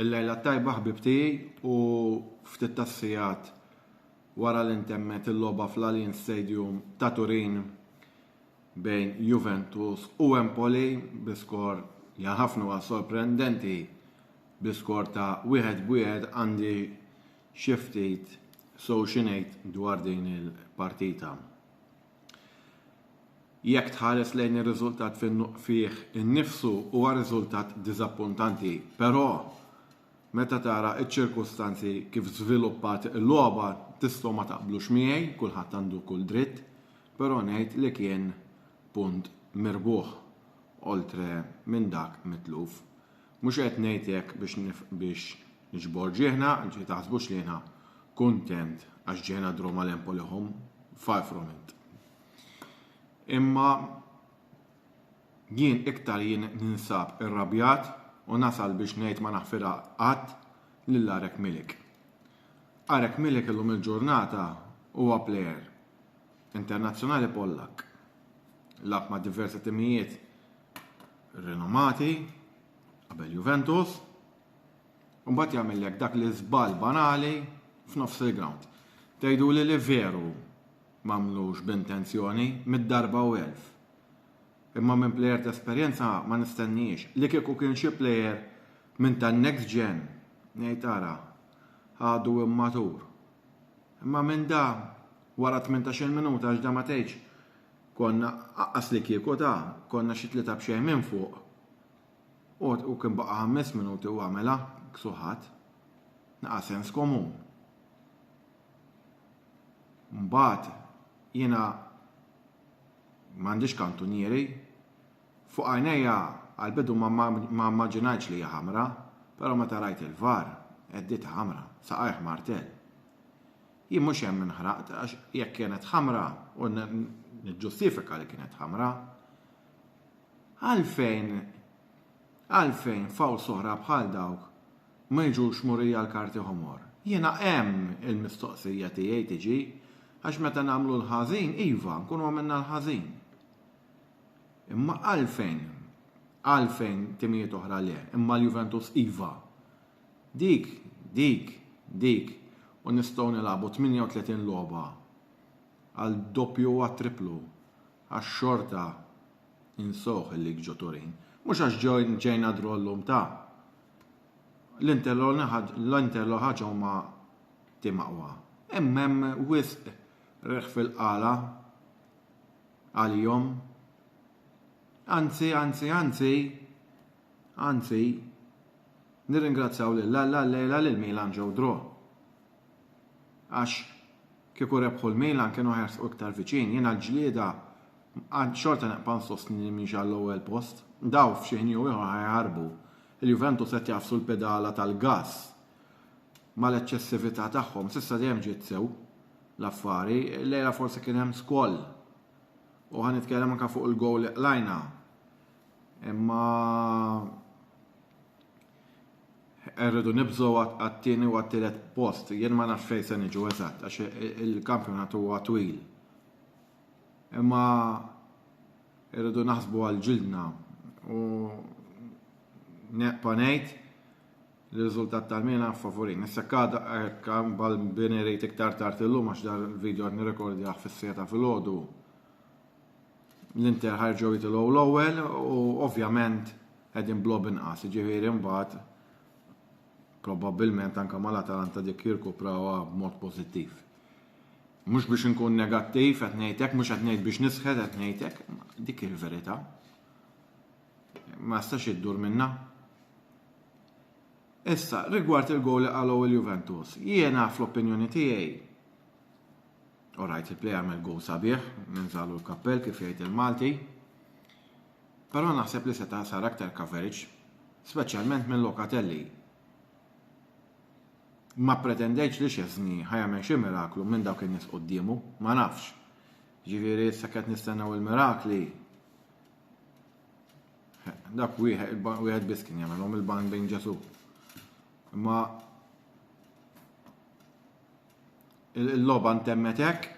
Il-lejla tajba ħbib tiegħi u ftit tas-sigħat wara li ntemmet il-logħba fl-Allianz Stadium ta' Turin bejn Juventus u Empoli bi skor li ħafna sorprendenti bi skor ta' wieħed b'wieħed għandi xi ftit so xinejt dwar din il-partita. Jekk tħares lejn ir-riżultat fih innifsu huwa riżultat diżappuntanti, però meta tara ċ-ċirkustanzi kif żviluppat il-logħba tistgħu ma taqblux miegħi, kulħadd għandu kull dritt, però ngħid li kien punt mirbuħ, oltre minn dak mitluf. Mhux qed ngħid hekk biex niġbor ġieħna, ġifieri taħsbux li jiena kuntent għax ġieħna drum għal Empoli home, far from it. Imma jien iktar jien ninsab irrabjat u nasal biex ngħid ma naħfirha qatt lil Arek Milik. Arek Milik illum il-ġurnata huwa plejer internazzjonali Pollak. Lab ma' diversi timijiet rinomati qabel Juventus u mbagħad jagħmellek dak li żball banali f'nofs il-ground. Tgħidu li li veru m'għamlux b'intenzjoni mid-darba u elf. Imma minn plejer ta' esperjenza ma nistenniex li kieku kien xi plejer minn tan-next gen ngħid ara għadu immatur. Imma minn da wara 18 minuta għax da ma tgħidx Konna aqqas li kieku ta, konna xi tlieta b'xejn minn fuq. U, u kien baqa' ħames minuti u għamilha, ksuħat. Naqa' sens komun. Mbagħad, jiena m'għandix kantunieri. Fuq għajnejja għall-bidu ma, ma, ma mmaġinajtx li hija ħamra, però meta rajt il-var, għeddietha ħamra, saqajh martell. Jien mhux hemm inħraqt għax jekk kienet ħamra u niġġustifika li kienet ħamra, għalfejn għalfejn faw soħra bħal dawk ma jiġux murija l-karti ħomor? Jiena hemm il-mistoqsija tiegħi tiġi għax meta nagħmlu l-ħażin iva nkunu għamilna l-ħażin. Imma għalfejn għalfejn timijiet oħra le, imma l-Juventus iva. Dik, dik, dik, u nistgħu nilagħbu 38 logħba għal doppju u għat-tripplu għax xorta ninsewh il-Lig ġo Turin. Mhux għax ġejna draw llum ta. L-Inter l ħaġa huma tim aqwa. Imma hemm wisq reħ fil-qala għalihom. Anzi, anzi, anzi, Anzi, nirringrazzjaw lil Alla llejla li l-Milan ġew draw. Għax kieku rebħu l-Milan kienu ħajersqu iktar viċin. Jiena l-ġlieda xorta nibqa' nsostni li mhix għall-ewwel post. Daw f'xi ħin jew ieħor ħajaħarbu. Il-Juventus qed jagħfsu l-pedala tal-gass mal-eċċessività tagħhom. S'issa dejjem ġiet sew l-affari. Llejla forsi kien hemm skoll. U ħa nitkellem anke fuq il-gowl li qlajna. Imma rridu nibżgħu għat-tieni u għat-tielet post. Jien ma nafx fejn se niġu eżatt għax il-kampjonat huwa twil. Imma rridu naħsbu għal ġildna u neqpa' ngħid l-riżultat tal-mina favorin. Issa kada kan bal-bini rejt iktar tard illum għax dar il-video għad nirrekordjaħ fis-seta fil-ħodu. L-Inter ħarġew jitilgħu l-ewwel u ovvjament qegħdin blob inqas, jiġifieri mbagħad probabbilment anke mal-Atalanta dik jirkuprawha b'mod pożittiv. Mhux biex inkun negattiv qed ngħidlek, mhux qed ngħid biex nisħed qed ngħidlek, dik il-verità. Ma stax iddur minna. Issa, rigward il-gowl li qalgħu il-Juventus, jiena fl-opinjoni tiegħi All right, il-play għamel goal sabiħ, ninżalu l-kappell kif jgħid il-Malti. Però naħseb li seta' sar aktar coverage, speċjalment minn Lokatelli. Ma pretendejx li xezni ħajamel xi miraklu minn dawk in-nies quddiemu, ma nafx. Ġifieri issa qed nistennew il-mirakli. Dak wieħed biss kien jagħmelhom il-ban bejn Ġesu. Imma Il-logħba ntemmet hekk.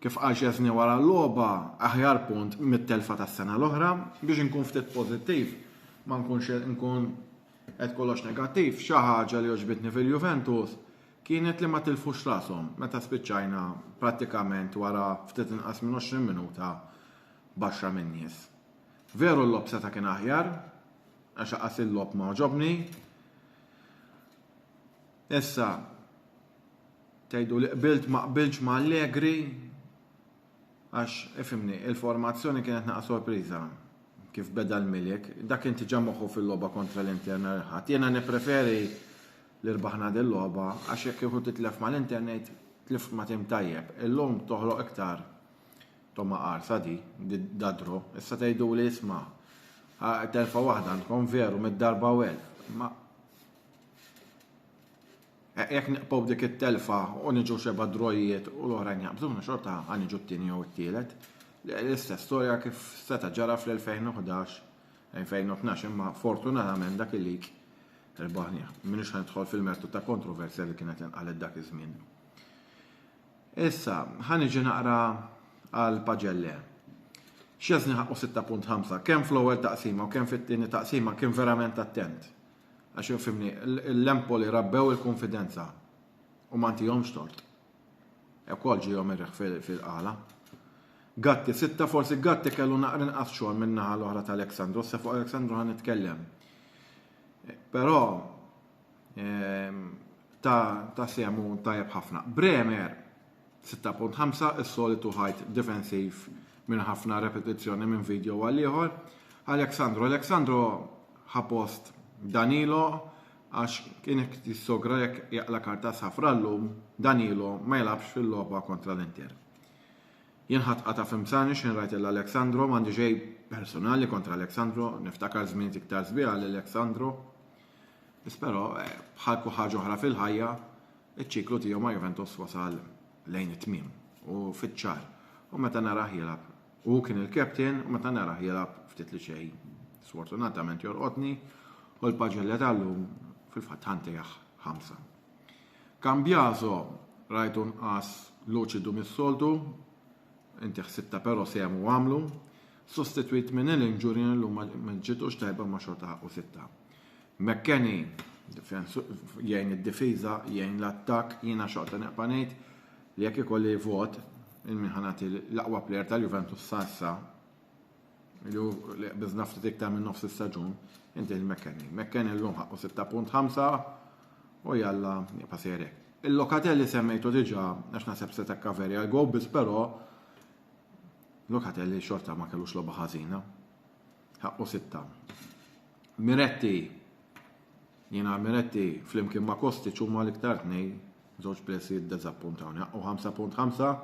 Kif qal Szczesny wara l-logħba, aħjar punt mit-telfa tas-sena l-oħra. Biex inkun ftit pożittiv, ma nkunx nkun qed kollox negattiv, xi ħaġa li għoġbitni fil-Juventus kienet li ma tilfux rashom meta spiċċajna prattikament wara ftit inqas minn 20 minuta baxra min-nies. Veru l-lob seta' kien aħjar, għax aqas il-lob ma għoġobni, Issa, tgħidu li qbilt ma qbiltx ma' Allegri, għax ifimni, il-formazzjoni kienet naqa' sorpriża kif beda l-Milik, dak kien tiġa moħħu fil-logħba kontra l-Inter nhar il-Ħadd. Jiena nippreferi li rbaħna din logħba għax jekk kieku titlef mal-Inter ngħid tlift ma' tim tajjeb. Illum toħloq iktar toma qarsa di, da dro. Issa tgħidu li isma' telfa waħda għandkom veru mid-darba u elf. Ma Eh, jekk niqpow dik it-telfa u niġu xeba drojiet u l-oħrajn jaqbżuna xorta għan iġu t-tieni jew it-tielet. L-istess storja kif seta ġara fl-2011-2012 imma fortunatament dak il-lig il-baħni. Minix ħanidħol fil-mertu ta' kontroversja li kienet inqalet dak iż-żmien. Issa, ħan iġi naqra għal paġelle. Xiezni ħaqqu 6.5, kemm fl-ewwel taqsima u kemm fit-tieni taqsima kien verament attent. Għax infimni, l-Empoli rabbew il-konfidenza u ma ntihomx tort. Ekol ġihom ir-riħ fil-qala. Gatti sitta forsi Gatti kellu naqra inqas xogħol min-naħa l-oħra ta' Aleksandru, se fuq Aleksandru ħan nitkellem. Però ehm, ta' semu tajjeb ħafna. Bremer 6.5 Is-solitu ħajt difensiv minn ħafna repetizzjoni minn video għal ieħor. Alexandro Alexandro ħapost Danilo għax kien jissogra jekk jaqla karta safra llum Danilo ma jilabx fil-logħba kontra l-Inter. Jien ħadd qata' fimsani x'in rajt il Alexandro m'għandi ġej personali kontra Alexandro, niftakar żmien iktar żbieħ għal Alexandro. Biss però eh, bħal kull ħaġa oħra fil-ħajja Iċ-ċiklu tiegħu ma' Juventus wasal lejn it-tmiem u fiċ-ċar u meta narah jilgħab u hu kien il-captain u meta narah jilgħab ftit li xejn sfortunatament jolqotni u l-paġelle tal-lum fil-fatt ħa ntejjah ħamsa. Cambiaso rajtu nqas luċidu mis-soltu, inti ħsibta però sehem u għamlu, sostitwit minn il-injury illum ma ġitux tajba ma xorta ħaqqu sitta. McKennie, jgħin id-difiża, jgħin l-attakk, jiena xorta neqpa' ngħid li jekk ikolli vot il-min ħanati l-aqwa plejer tal-Juventus sa issa li biżna ftit iktar minn nofs is-staġun inti l-McKennie. McKennie llum ħaqqu 6.5 u jalla jibqa' sejrek. Il-Lokatelli semmejtu diġà għax naħseb se takka veri għal gow biss però Lokatelli xorta ma kellux logħba ħażina. Ħaqqu sitta. Miretti, jiena Miretti flimkien ma' Kostic huma l-iktar tnej, żewġ plessi jiddeżappuntawni. Ħaqqu 5.5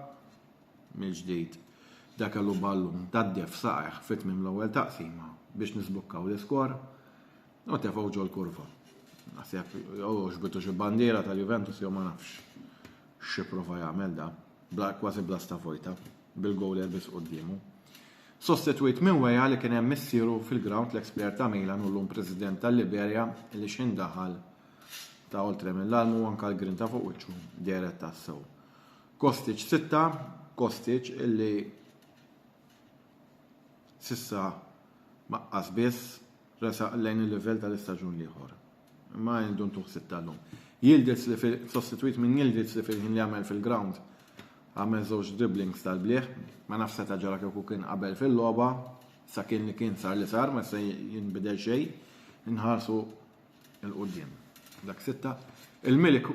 mill-ġdid da kellu ballun tad-def saqeħ fit tmim l-ewwel taqsima biex nisbukkaw l-iskor u tefgħu ġol kurva. Naħseb jew xbitu xi bandiera tal-Juventus jew ma nafx xi prova jagħmel da, kważi bla stafojta. bil-goal elbies quddiemu. Sostitwit minn Weah li kien hemm missieru fil-grawnd l-eks plejer ta' Milan u llum President tal-Liberja li x'ħin daħal ta' oltre mill-almu u anke l-grinta fuq wiċċu dehret tassew. Kostic sitta, Kostic illi s'issa maqqas biss resaq lejn il-livell tal-istaġun l-ieħor. Ma għindu ntuħ sitta llum. Yildiz li sostitwit minn Yildiz li fil-ħin li għamel fil-grawnd għamel żewġ dribblings tal-blieh. Ma nafx seta' ġara kieku kien qabel fil-logħba, sa kien li kien sar li sar ma se jinbidel xejn. Inħarsu il quddiem Dak sitta. Il-Milik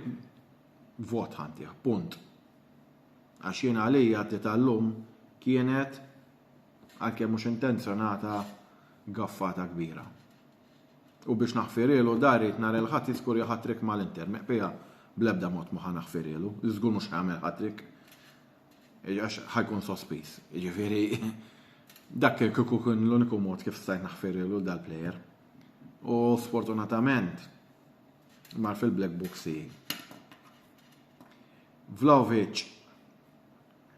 vot ħantih, punt. Għax jien għalija t tal-lum kienet għalkemm mhux intenzjonata gaffata kbira. U biex naħfirielu da rrid nhar il-Ħadd jiskurja hat-trick mal-Inter. Meqpija, Bl-ebda mod ma ħa naħfirielu. Żgur mhux ħa jagħmel hat-trick. Għax ħa jkun sospiż. Jiġifieri dak kien kieku kien l-uniku mod kif stajt naħfirielu dal-plejer. U sfortunatament mar fil-black book si. Vlahovic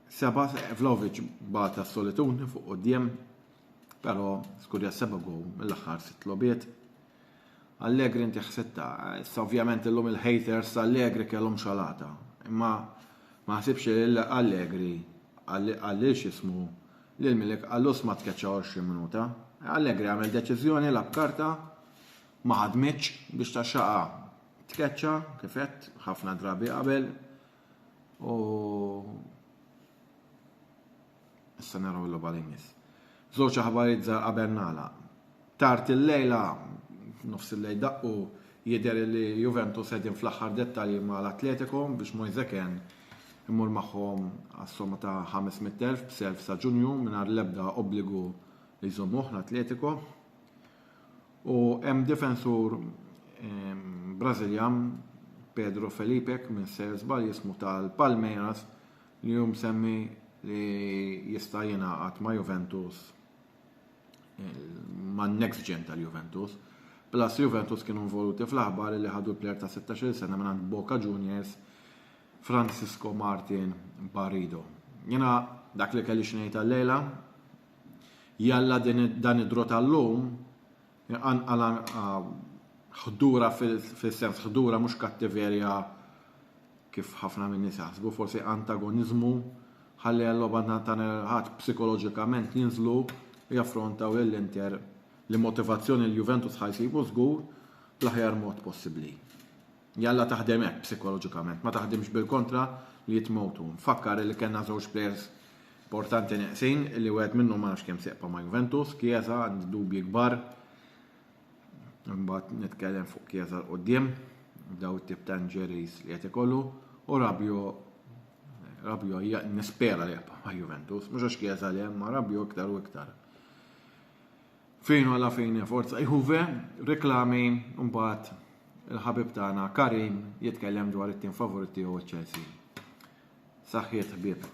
Seba Vlahovic bata s-solitudni fuq quddiem, però skurja seba' gow mill-aħħar sitt logħbiet. Allegri inti ħsitta, issa ovvjament illum il-haters t'Allegri kellhom xalata, imma ma ħsibx li Allegri qal lil x'ismu lil Milik qallus ma tkeċċa 20 minuta. Allegri għamel deċiżjoni lab karta ma ħadmitx biex taxxaqha tkeċċa kif għedt ħafna drabi qabel U issa naraw l logħba li jmiss. Żewġ aħbarijiet żgħar qabel nagħlaq. Tard il-lejla nofs il-lejl daqqu jidher li Juventus qegħdin fl-aħħar dettalji ma' l-Atletico biex Moise Ken imur magħhom għas-somma ta' 500,000 b'self sa' Ġunju mingħajr l-ebda obbligu li jżommuh l-Atletico. U hemm difensur Brażiljan Pedro Felipe minn ser żball jismu tal-Palmeiras li hu msemmi li jista' jingħaqad ma' Juventus man next gen tal-Juventus. Plus Juventus kienu involuti fl-aħbar li ħadu l-player ta' 16 sena minn Boca Juniors Francisco Martin Barrido. Jena dak li kelli xnejta l-lejla, Jalla din dan id-draw tal-lum iqanqal anqa ħdura fis-sens ħdura mhux kattiverja kif ħafna minn nies jaħsbu, forsi antagoniżmu ħalli għal-logħba tan ħadd psikoloġikament jinżlu jaffrontaw lil Inter li motivazzjoni l-Juventus ħajsibu żgur bl-aħjar mod possibbli. Jalla taħdem hekk psikoloġikament, ma taħdimx bil-kontra li jitmewtu. Nfakkar li kellna żewġ plejers importanti neqsin li wieħed minnhom ma nafx kemm seqpa ma' Juventus, Chiesa għandi dubji kbar. Imbagħad nitkellem fuq Chiesa l quddiem daw it-tip ta' injuries li qed ikollu u Rabio Rabio nispera li jaqpa' ma' Juventus, mhux għax Chiesa li hemm ma' Rabio iktar u iktar. Fejn hu la fine forza Juve, riklami mbagħad il-ħabib tagħna Karim jitkellem dwar it-tim favorit tiegħu Chelsea. Saħħiet ħbieb.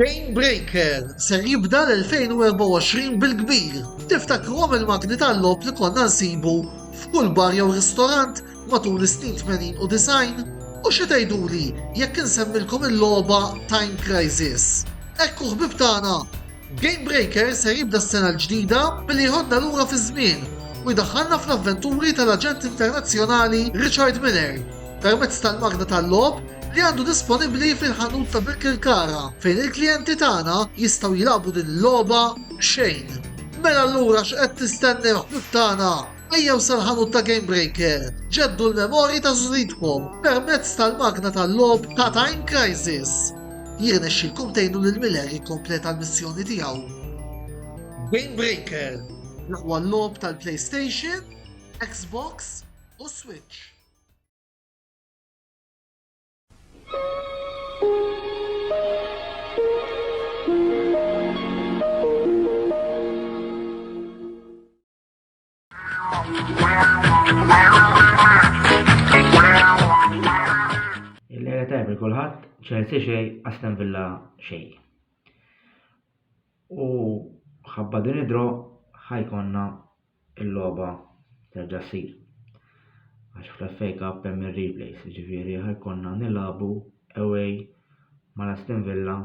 Chain Breaker ser jibda l-2024 bil-kbir. Tiftakruhom il-magni tal-lob li konna nsibu f'kull bar jew ristorant matul is-snin 80 u 90? U xi tgħiduli jekk insemmilkom il-logħba Time Crisis? Ekku ħbib tagħna, Game Breaker ser jibda s-sena l-ġdida billi jħoddna lura fiż-żmien u jdaħħalna fl-avventuri tal-aġent internazzjonali Richard Miller permezz tal-magna tal-logħob li għandu disponibbli fil-ħanut ta' Birkirkara fejn il-klijenti tagħna jistgħu jilagħbu din il-logħba b'xejn. Mela allura x'qed tistennew ħbieb tagħna? Ejjew sal-ħanut ta' Gamebreaker, ġeddu l-memorji ta' żuridkom permezz tal-magna tal-logħob ta' Time Crisis! Jirnexxilkom tgħinu lil Miller jikkompleta l-missjoni tiegħu. Gamebreaker, l-aqwa logħob tal-PlayStation, Xbox u Switch. Il-lejla tajb il-kulħadd, Chelsea xej, Aston Villa xej. U ħabba din id-dro ħajkonna il-logħba terġa' ssir. Għax fl-FA Cup hemm ir-replays, jiġifieri ħajkonna nilagħbu away mal Aston Villa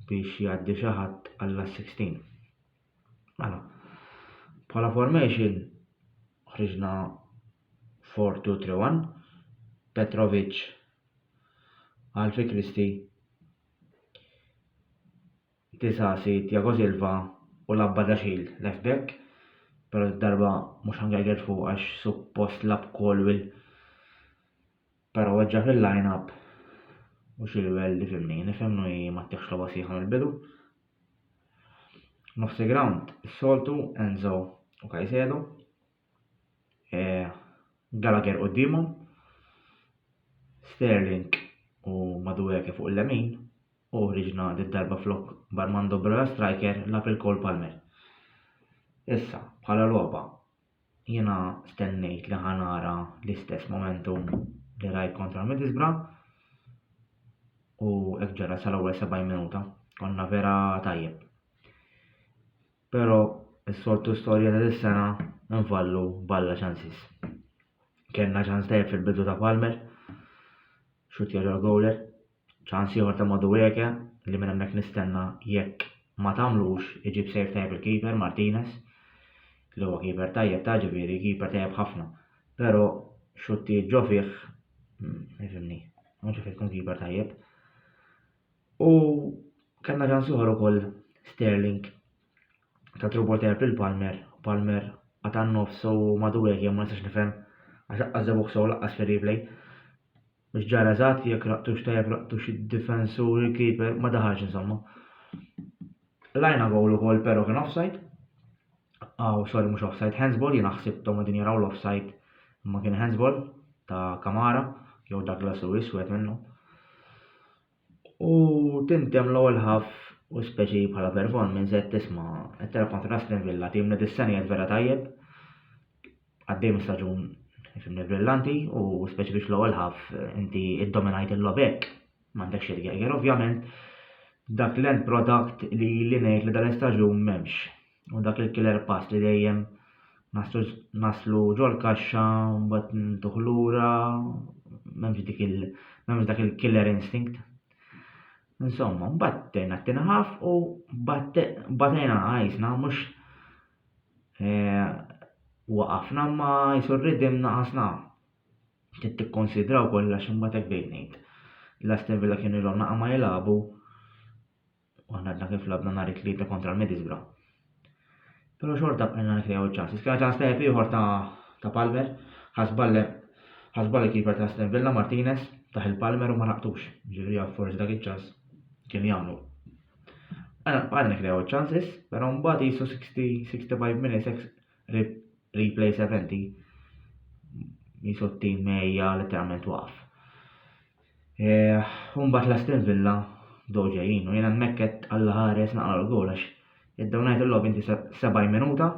biex jgħaddi xi ħadd għall-16. Mela, bħala formation ħriġna 4-2-3-1, Petrovic, Alfi Kristi, Tisasi, Tiago Silva u Labba Daxil left back, pero darba mhux ħangerger fuq għax suppost lab Colwell Pero weġġa' fil-line up u xi livell li fimni, nifhem li ma ttieħx logħba sħiħa mill-bidu. Nofs il-ground is-soltu Enzo u Caicedo. E, Gallagher quddiemhom. Sterling u Madueke fuq il-lemin u ħriġna darba flok Barmando Broja striker lab il-Cole Palmer. Issa, bħala logħba, Jiena stennejt li ħa nara l-istess momentum li rajt kontra Middlesbrough u hekk ġara sal-ewwel 70 minuta. Konna vera tajjeb. Però is-soltu storja ta' dis-sena nfallu balla ċansis. Kellna ċans tajjeb fil-bidu ta' Palmer, xutja ġol-gowler, Ċans ieħor ta' Madueke li minn hemmhekk nistenna jekk ma tagħmlux iġib save tajjeb il-keeper Martinez li huwa keeper tajjeb ta' ġifieri keeper tajjeb ħafna. Però xuttijiet ġo fih ifhimni, ma ġo fih tkun keeper tajjeb. U kellna ċans ieħor ukoll Sterling ta' trubol tajjeb lil Palmer, Palmer għatan nofs u Madueke ma nistax nifhem għax aqqas żebuħ sew laqqas fir-replay. Mhux ġara eżatt, jekk raqtux tajjeb raqtux id-difensur, il-keeper, ma daħalx insomma. Lajna gowl ukoll pero kien offside. Aw, sorry mhux offside, handsball, jiena ħsibthom qegħdin jaraw l-offside imma kien handsball ta' Kamara jew Douglas Lewis wieħed minnhom. U tintemm l-ewwel half u speċi bħala performance qed tisma' qed tilgħab kontra Aston Villa tim li dis-sena qiegħed vera tajjeb. Għaddej minn staġun fimni brillanti u speċi biex l-ewwel half inti iddominajt il-logħob hekk. M'għandek xi tgerger ovvjament dak l-end product li li ngħid li dan l-istaġun m'hemmx. u dak il-killer pass li dejjem naslu ġol-kaxxa u mbagħad ntuh lura, m'hemmx dak il-killer instinct. Insomma, mbagħad tejna t-tinħaf u batejna għajsna mhux eh, waqafna ma jisu r-ridim naqasna. Trid tikkonsidraw kollha x'imbagħad hekk bdejt ngħid. L-Aston Villa kienu jilhom naqa' ma jilagħbu u aħna għadna kif labna nhar it-Tlieta kontra l-Middlesbrough. Però xorta bqajna nikrew iċ-ċansi. Skena ta' step ieħor ta' ta' Palmer, ħasballe ħasballe kiper ta' Aston Villa Martinez taħ il-Palmer u ma naqtux. Ġifieri forsi dak iċ-ċans kien jagħmlu. Għana bqajna nikrew iċ-ċansis, però mbagħad jisu 60-65 minutes replay 70 jisu t-tim mejja letteralment waqf. Eh, umbat l-Aston Villa bdew ġejjin u jien hemmhekk qed Alla ħares naqra l-gowl għax iddew ngħid il-logħob inti 70 minuta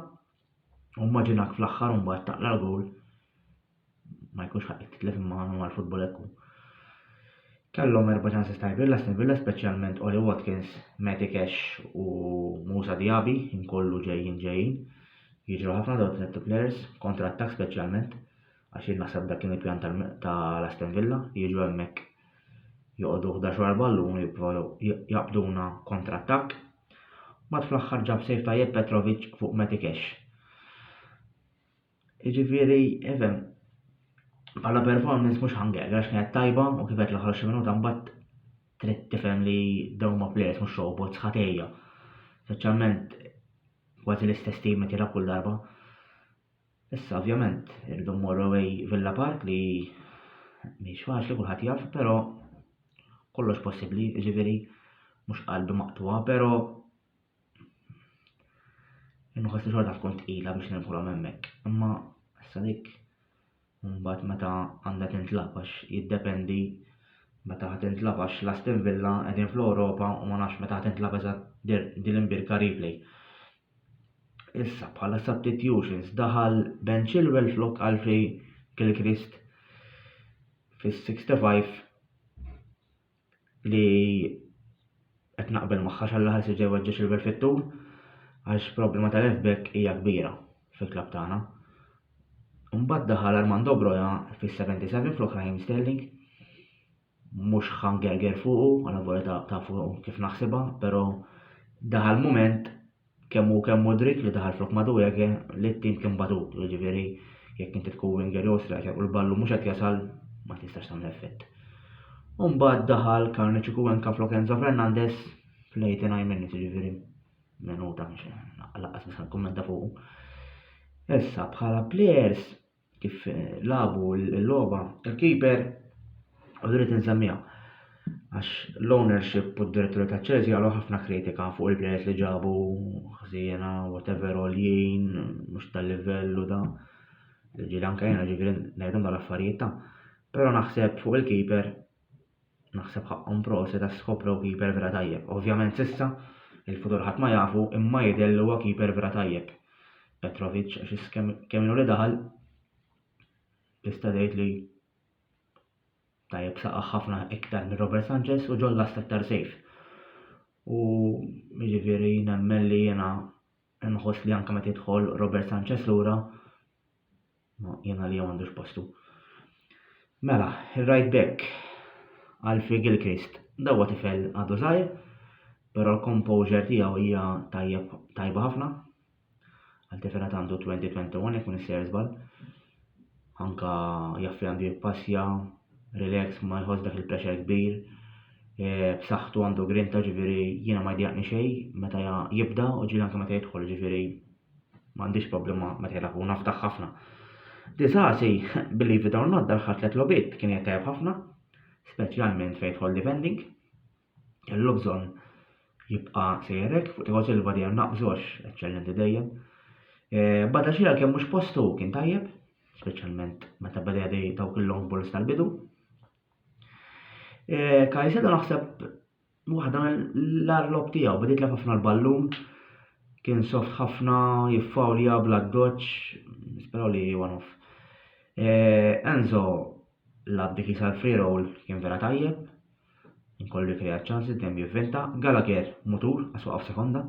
u mmaġinak fl-aħħar umbat taqla l-gowl ma jkunx ħaqqek titlef imma għanu għal-futbol ekku. Kellhom erba' ċansi tajbin l-Aston Villa speċjalment Oli Watkins, Matty Cash u Musa Diaby inkollu ġejjin ġejjin. Jiġru ħafna dawn tliet players kontra attak speċjalment. għax jien naħseb dak kien il-pjan ta' l-Aston Villa, jiġu hemmhekk joqogħdu 11 wara l-ballun u jippruvaw jaqbduna kontra attakk. Mbagħad fl-aħħar ġab sejf tajjeb Petrovic fuq Matty Cash. Jiġifieri, even, bħala performance mhux ħangel, għax kienet tajba u kif qed l-aħħar xi minuta mbagħad trid tifhem li dawn ma' players mhux robots ħatejja. Speċjalment kważi l-istess tim qed jilgħab kull darba. Issa ovvjament irridu mmorru away Villa Park li mhix faċli kulħadd jaf, però kollox possibbli, jiġifieri mhux qalbi maqtuha, però inħoss li xorta tkun tqila biex nidħolhom hemmhekk. Imma issa dik mbagħad meta għandha tintlab għax jiddependi meta ħadd intlab għax l-Aston Villa qegħdin fl-Ewropa u ma nafx meta ħadd intlab eżatt din l-imbirka replay. Issa, bħala substitutions, daħal Ben Chilwell flok Alfie Gilchrist fis-65 li qed naqbel magħha xalla ħassi ġej weġġa' Chilwell fit-tul għax problema ta' left back hija kbira fil-klabb tagħna. Mbagħad daħal Armando Broja fis-77 flok Raheem Sterling. mhux ħangherger fuqu, alla volja taf kif naħsibha, però daħal mument kemm hu kemm Mudryk li daħal flok Madueke li t-tim kien batut, jiġifieri jekk inti tkun winger jew striker u l-ballu mhux qed jasal ma tistax tagħmel effett. U mbagħad daħal Karni Ċikuwenka flok Enzo Fernandez fl-89 minutes, jiġifieri minuta mhux laqqas nista' nikkummenta fuqu. Issa bħala players kif labu l-logħba tal-keeper u rrid insemmiha. Għax l-ownership u d-direttori ta' Chelsea għalu ħafna kritika fuq il-players li ġabu ħsiena, whatever oljien, mhux tal-livell u da. Ġieli anke jena ġifieri ngħidhom dal-affarijiet ta'. Però naħseb fuq il-keeper Naħseb ħaqqhom proset għax skoprew keeper vera tajjeb. Ovvjament s'issa, il-futur ħadd ma jafu imma jidher li huwa keeper vera tajjeb. Petrovic għax is kemm ilu li daħal tista' tgħid li tajjeb saqaħ ħafna iktar minn Robert Sanchez u ġol last aktar safe. U jiġifieri nemmen li jiena nħoss li anke meta jidħol Robert Sanchez lura Ma jien għalija m'għandux postu. Mela, ir-right back Alfie Gilchrist dawa tifel għadu żgħir, però l-composure tiegħu hija tajjeb tajba ħafna. Għal tifel għad għandu 2021 jekk minn sejr żball. Anka jaffi għandu jippassja, relax ma jħoss dak il-pressure kbir. E, b'saħħtu għandu grinta ġifieri jiena ma jdjaqni xejn meta jibda u ġieli anke meta jidħol ġifieri M'għandix problema meta jilagħbu u nafdaħ ħafna. Disasi, billi it or not daħħal tliet lobiet kien qed tajjeb ħafna, speċjalment fejn jidħol defending. Kellu bżonn jibqa' sejrek fuq tiegħu Silva dejjem naqbżu għax eċċellenti dejjem. Eh, bada xi għalkemm mhux postu kien tajjeb, speċjalment meta beda dej dawk il-long balls tal-bidu. Eh, Kajsedo naħseb Waħda mill-agħar logħob tiegħu, bdiet lef ħafna l-ballun, kien soft ħafna, jiffawlja bla doċ, nisperaw li one off. Eh, Enzo lab dik jisal free roll kien vera tajjeb, inkollu jkreja ċansi dejjem jivventa, Gallagher mutur għas waqaf sekonda,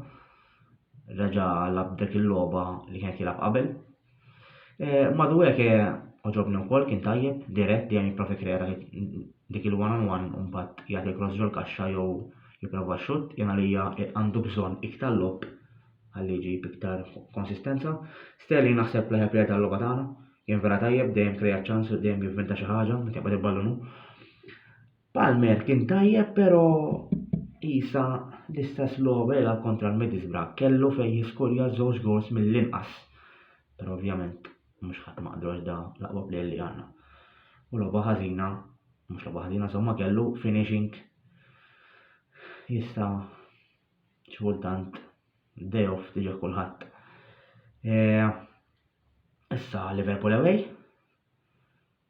reġa' lab dik il-logħba li kien qed jilgħab qabel. Eh, Madwek eh, oġobni wkoll kien tajjeb, dirett dejjem jipprova jikkrea dak il- dik il-one on one u mbagħad jagħti l-cross ġol kaxxa jew jipprova x-xutt, jien għalija eh, għandu bżonn iktar lob għalli jġib iktar konsistenza. Sterling naħseb l-aħjar player tal-logħba tagħna, kien vera tajjeb, dejjem kreat ċans u dejjem jivvinta xi ħaġa meta jaqbad il-ballun hu. Palmer kien tajjeb pero isa l-istess logħba jilgħab kontra l-Middlesbrough kellu fejn jiskurja żewġ goals mill-inqas. Pero ovvjament mhux ħadd maqdu għax da l-aqwa plejer li għandna. U logħba ħażina, mhux logħba ħażina, somma kellu finishing jista' xultant day off tiġi kulħadd. Eh, issa Liverpool away,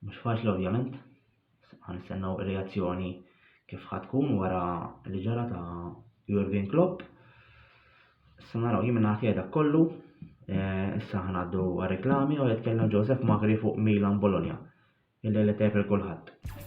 Mhux faċli ovvjament, ħa nistennew ir-reazzjoni kif ħa tkun wara li ġara ta' Jurgen Klopp. Issa naraw jien minn dak kollu, eh, issa ħa ngħaddu reklami u jitkellem Joseph Magri fuq Milan Bologna. Illi li tepel kulħadd.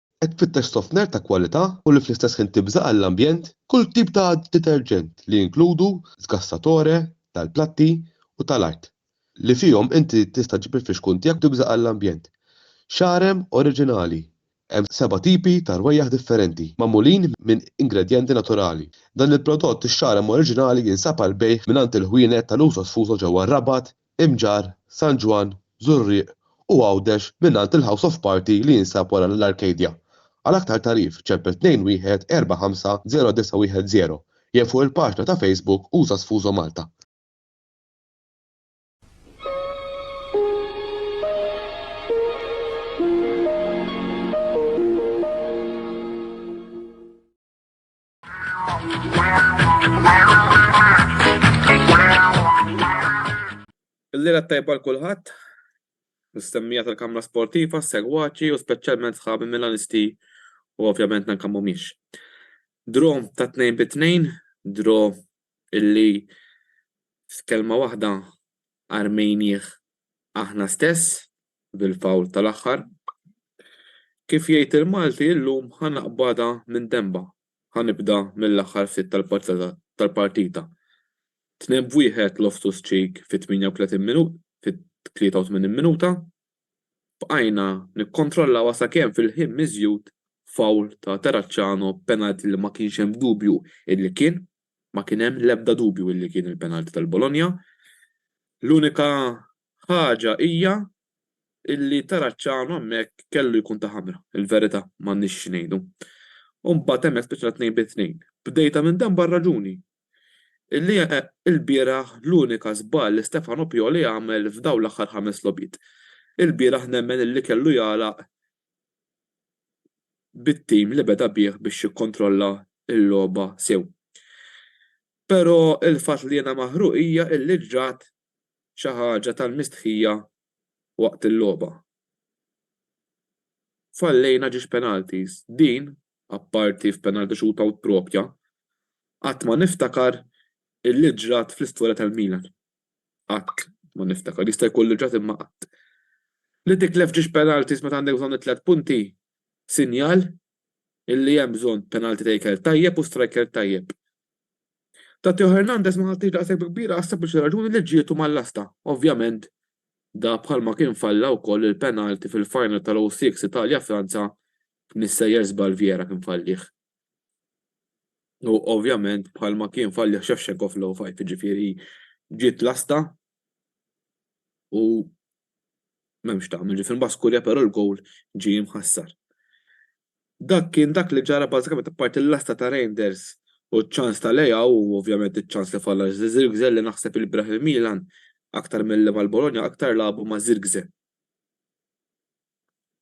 Qed tfittex sofner ta' kwalità u li fl-istess ħin tibża' għall-ambjent? Kull tip ta' deterġent li jinkludu sgassatore tal-platti u tal-art, li fihom inti tista' ġġib il-fixkun tiegħek u tibża' għall-ambjent. Xarem oriġinali, Hemm seba' tipi ta' rwejjaħ differenti, magħmulin minn ingredjenti naturali. Dan il-prodott ix-xarem oriġinali jinsab għall-bejgħ mingħand il-ħwienet tal-uso sfuso ġewwa r-Rabat, Imġarr, San Ġwann, Żurrieq u Għawdex mingħand il-House of Party li jinsab wara l-Arcadia. Għal aktar tagħrif ċempel 214509110 jew fuq il-paġna ta' Facebook Usa Sfuso Malta. Il-lira tajba l-kulħadd, mistemmija tal-kamra sportiva, segwaċi u speċjalment sħabi Milanisti u ovvjament nanka mhumiex. Dro ta' tnejn bi tnejn, dro illi f'kelma waħda armejnieh aħna stess bil-fawl tal-aħħar. Kif jgħid il-Malti illum ħa naqbadha minn denbha, ħa nibda mill-aħħar ftit tal-partita. Tnebb wieħed Loftus-Cheek fit-38 minut, fit-83 minuta, bqajna nikkontrollawha sakemm fil-ħin miżjud foul ta' Terracciano b'penalty li ma kienx hemm dubju illi kien, ma kien hemm l-ebda dubju illi kien il-penalty tal-Bologna. L-unika ħaġa hija illi Terracciano hemmhekk kellu jkun ta' ħamra, il-verità, m'għandniex xi ngħidu. U mbagħad hemmhekk spiċċajna tnejn bi tnejn. Bdejtha minn dan b'għar-raġuni, li ilbieraħ l-unika żball li Stefano Pioli għamel f'dawn l-aħħar ħames logħbiet ilbieraħ nemmen illi kellu jagħlaq bit-tim li beda bih biex jikkontrolla l-logħba sew. Però il-fatt li jiena maħruq hija illi ġrat xi ħaġa tal-mistħija waqt il-logħba. Fallejna ġiex penalties. Din apparti f'penalti shootout proprja, qatt ma niftakar illi ġrat fl-istorja tal-Milan. Qatt ma niftakar. Jista' jkun li ġrat imma qatt. Li titlef ġiex penalties meta għandek bżonn it-tliet punti, sinjal illi hemm bżonn penalty taker tajjeb u striker tajjeb. Ta' Theo Hernandez ma ħadtiex daqshekk bi kbira għas-sempliċi raġuni li ġrietu mal-lasta. Ovvjament, da bħalma kien falla wkoll il-penalty fil-final tal-06 Italja-Franza mis-sejjer żball Vieira kien fallih. U ovvjament bħalma kien fallih Shevchenko fl-05, jiġifieri ġiet lasta u m'hemmx tagħmel, ġifieri mbagħad skurja però l-gowl ġie mħassar. Dak kien dak li ġara bażikament apparti l-lasta ta' Reinders u ċ-ċans ta' Leao u ovvjament iċ-ċans li falla Zirkzee li naħseb il-bieraħ il-Milan aktar milli mal-Bologna aktar lagħbu ma' Zirkzee.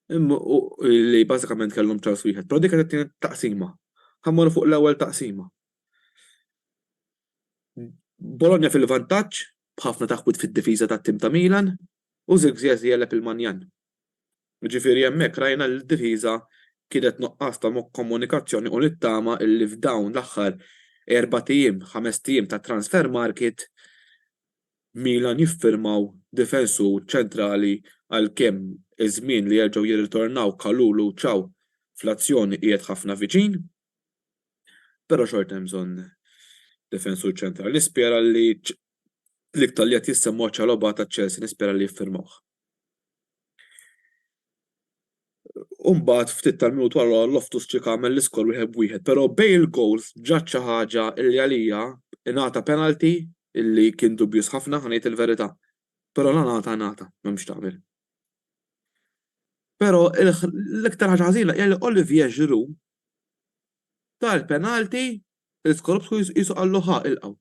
li bażikament kellhom ċans wieħed, però dik kienet it-tieni taqsima. Ħa mmorru fuq l-ewwel taqsima. Bologna fil-vantaġġ b'ħafna taħwid fid-difiża tat-tim ta' Milan u Zirkzee jegħleb il-Manjan. Jiġifieri hemmhekk rajna li d-difiża kienet nuqqas ta' komunikazzjoni u nittama li f'dawn l-aħħar erbat ijiem, ħamest ijiem ta' transfer market Milan jiffirmaw difensur ċentrali għalkemm iż-żmien li jerġgħu jirritornaw Kalulu u Thiaw fl-azzjoni qiegħed ħafna viċin. Però xorta hemm bżonn difensur ċentrali. Nispera li l-iktar li qed jissemma huwa Chalobah ta' Chelsea nispera li jiffirmawh. Umbagħad ftit tal-minut wara Loftus Cheek għamel l-iskor wieħed b'wieħed, però bejn il-gowls ġrat xi ħaġa li għalija ingħata penalty li kien dubjuż ħafna, ħa ngħid il-verità. Però la ngħata ngħata, m'hemm x'tagħmel. Però l-iktar ħaġa ħażina hija li Olivier Giroud ta l-penalty li Skorupski qisu qallu ħa ilqgħu.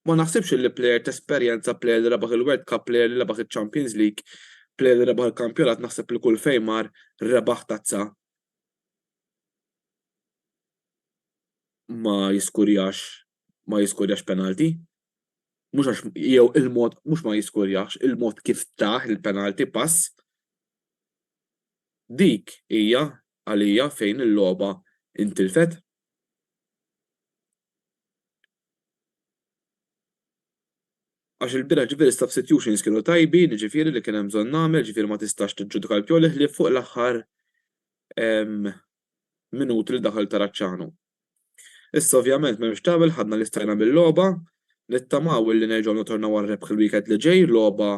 Ma naħsibx li plejer t'esperjenza, plejer li rebaħ il-World Cup, plejer li rebaħ iċ-Champions League, plejer li rebaħ il-kampjonat naħseb li kull fejn mar rebaħ tazza ma jiskurjax ma jiskurjax penalti. Mhux għax jew il-mod mhux ma jiskurjax, il-mod kif taħ il-penalti pass. Dik hija għalija fejn il-logħba intilfet. Għax il-bilanċ ġifieri substitutions kienu tajbin, jiġifieri li kien hemm bżonn nagħmel, jiġifieri ma tistax tiġġudika l-Pioli ħlief fuq l-aħħar minuti li daħal Taracciano. Issa ovvjament m'hemmx x'tagħmel ħadna li stajna mill-logħba, nittamaw illi nerġgħu nittornaw għar-rebħ il-weekend li ġej, logħba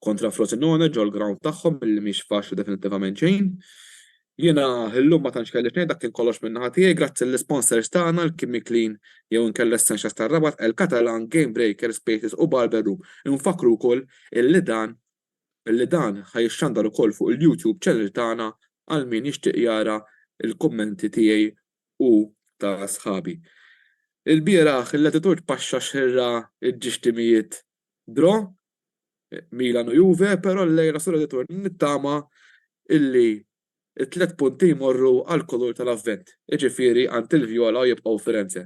kontra Frosinone ġol-ground tagħhom billi mhix faċli definittivament xejn. Jiena illum ma tantx kelli x'ngħid dak kien kollox minn naħa tiegħi grazzi lill-isponsors tagħna l-Chemiclean jew inkella Essentials tar-Rabat, El Catalan, Game Breaker, Spaces u Barber Room. Infakkru wkoll illi dan illi dan ħa jixxandar ukoll fuq il-YouTube channel tagħna għal min jixtieq jara l-kummenti tiegħi u ta' sħabi. Ilbieraħ il-Latitude paxxa xirra ġġiex timijiet draw Milan u Juve, però llejla sur ir-ritorn nittama illi t-tliet punti jmorru għall-kulur tal-Avvent, jiġifieri għand il-Vjola u jibqgħu Firenze.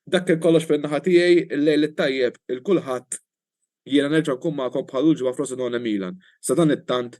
Dak kien kollox minn naħa tiegħi, il-lejl it-tajjeb 'l kulħadd, jiena nerġa' nkun magħkom bħal l-ġimgħa Frosinone Milan, sadanittant